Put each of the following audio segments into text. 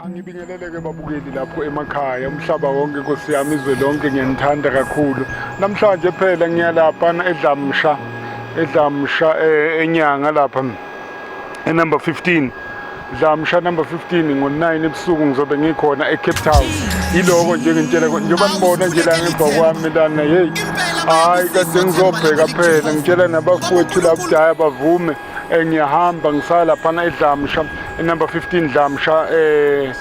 Angibingeleleke babukeli lapho emakhaya umhlaba wonke Nkosi yami izwe lonke ngiyanithanda kakhulu namhlanje phela ngiyalapha edlamsha edlamsha eh, enyanga lapha enumber 15 dlamsha number 15 ngo-9 ebusuku ngizobe ngikhona ecape town yiloko nje ngintshela njengoba nibona nje la ngemva kwami lana yeyi hhayi kade ngizobheka phela ngitshela nabafowethu labudaya bavume eh, ngiyahamba ngisaya laphana edlamsha enumber 15 dlamsha eh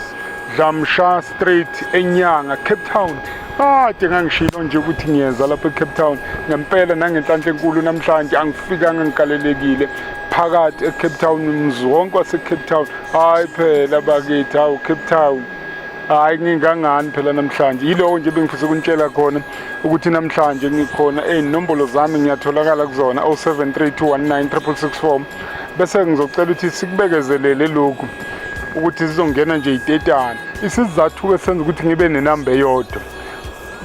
dlamsha street enyanga cape town kade ngangishilo nje ukuthi ngiyeza lapha ecape town ngempela nangenhlanhla enkulu namhlanje angifikanga ngikalelekile phakathi ecape town mzi wonke wasecape town hhayi phela bakithi hawu cape town hayi ngingangani phela namhlanje yilowo nje bengifisa ukunitshela khona ukuthi namhlanje ngikhona ey'nombolo zami ngiyatholakala kuzona 0732196664 bese ngizocela ukuthi sikubekezelele lokhu ukuthi sizongena nje itetana isizathu esenza ukuthi ngibe nenamba eyodwa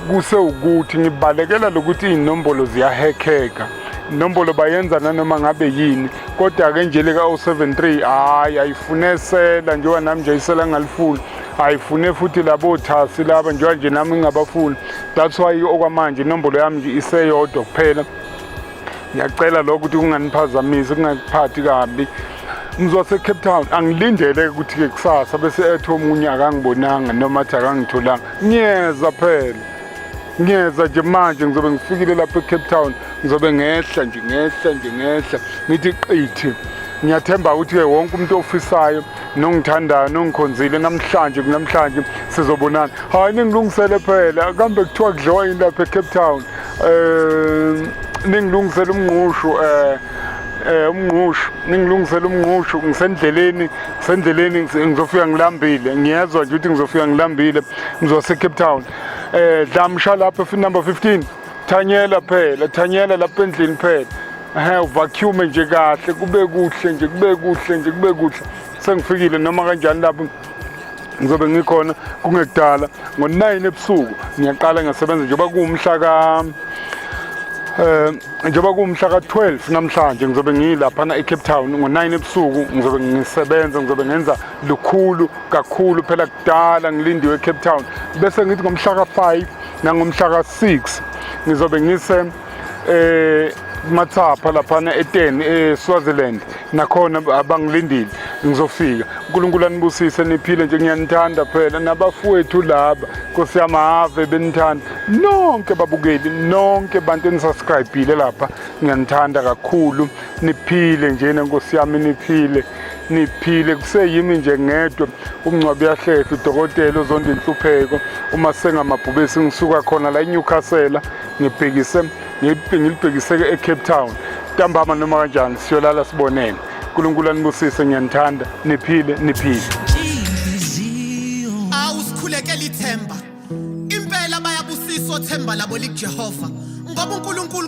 kuse ukuthi ngibalekela lokuthi iy'nombolo ziyahekheka inombolo bayenza nanoma ngabe yini kodwa-ke nje lika-073 hhayi ayifune sela njengoba nami nje isela ngingalifuni ayifune futhi labo thasi laba njengoba nje nami ngingabafuni that's why okwamanje inombolo yami nje iseyodwa kuphela ngiyacela lokho ukuthi kunganiphazamisi kungakuphathi kabi ngizosecape town angilindele ukuthi-ke kusasa bese ethi omunye akangibonanga noma athi akangitholanga ngiyeza phela ngiyeza nje manje ngizobe ngifikile lapho ecape town ngizobe ngehla nje ngehla nje ngehla ngithi qithi ngiyathemba ukuthi-ke wonke umuntu ofisayo nongithandayo nongikhonzile namhlanje kunamhlanje sizobonana hhayi ningilungisele phela kambe kuthiwa kudliwa yini lapha ecape town eh ningilungisela umngqushu eh eh umngqushu ningilungisela umngqushu ngisendleleni ngisendleleni ngizofika ngilambile ngiyezwa nje ukuthi ngizofika ngilambile ngizowa seCape Town eh dlamsha lapha fi number 15 thanyela phela thanyela lapha endlini phela ehe uvacuum nje kahle kube kuhle nje kube kuhle nje kube kuhle sengifikile noma kanjani lapho ngizobe ngikhona kungekudala ngo-9 ebusuku ngiyaqala ngiyasebenza njengoba kuwumhla ka um njengoba kuwumhla ka-12 namhlanje ngizobe ngiyilaphana ecape town ngo-9 ebusuku ngizobe ngisebenza ngizobe ngenza lukhulu kakhulu phela kudala ngilindiwe ecape town bese ngithi ngomhla ka-5 nangomhla ka-6 ngizobe ngise eh mathapha laphana eteni eSwaziland nakhona abangilindile ngizofika uNkulunkulu anibusise niphile nje ngiyanithanda phela nabafowethu laba Nkosi yami ave benithanda nonke babukeli nonke bantu enisubscribile lapha ngiyanithanda kakhulu niphile nje nenkosi yami niphile niphile kuseyimi nje ngedwa umncwabi yahlehla udokotela uzonda inhlupheko uma sengamabhubesi ngisuka khona la eNewcastle ngibhekise ngilibhekise eCape Town ntambama noma kanjani siyolala sibonene uNkulunkulu anibusise ngiyanithanda niphile niphile awusikhulekela ithemba impela bayabusisa othemba labo likuJehova ngoba uNkulunkulu